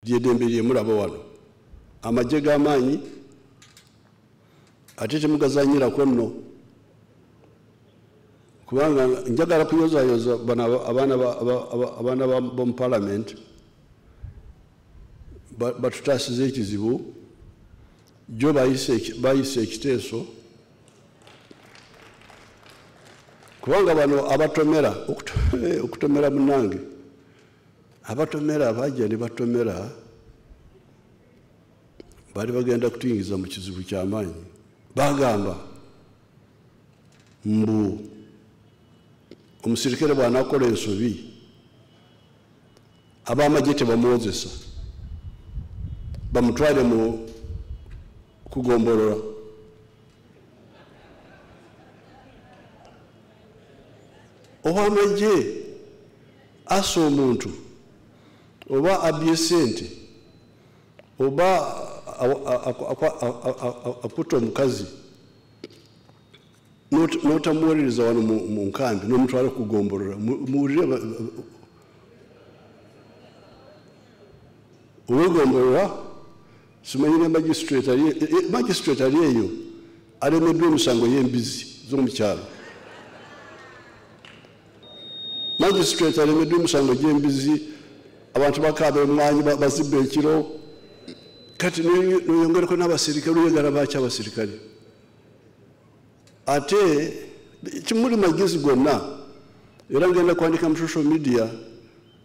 lyedembe lyemulaba wano amagye g'amaanyi ate temugazanyirako nno kubanga njagala kuyozayoza abaana bomu palamenti batutaasiza ekizibu jo bayise ekiteeso kubanga bano abatomera okutomera munange abatomera bajja ne batomera baali bagenda kutuyingiza mu kizibu kyamaanyi bagamba mbu omusirikale bwanakola ensobi abamagye tebamwozesa bamutwale mu kugombolola owamagye asa omuntu oba abye sente oba akutta omukazi notamuwolereza wano mu nkambi nomutwala okugombolora muwulire owegombolora simanyi ne magistrate ali e- e- magistrate ali eyo alemeddwa emisango y'embizi z'omu kyalo magistrate alemeddwa emisango gy'embizi abantu bakaaba emwanyi ba- bazibba ekiro kati noyo- noyongereko n'abaserikale oyagala baaki abaserikale ate kimuli magezi gonna era ngenda kwandika mu social media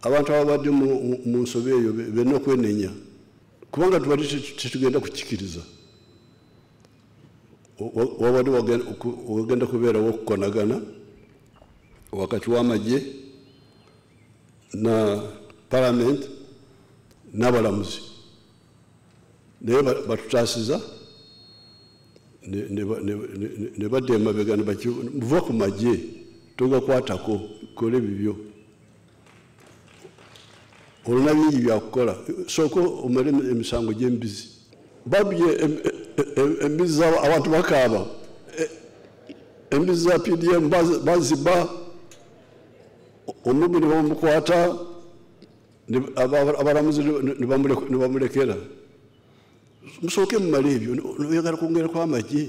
abantu ababadde mu- mu- mu nsobi eyo be- benna okwenenya kubanga tubali tetugenda kukikiriza wabadde wagenda kubeerawo okukonagana wakati w'amagye na palamenti n'abalamuzi naye batutaasiza ne badda emabega muva ku magye togakwatako kola ebibyo olina bingi byakukola sooka omale emisango gyembizi babye embizi za abantu bakaaba e, embizi za pdm baziba omubi nebamukwata abalamuzi nebamulekera musooke mumale ebyo oyagala kwongerako amagye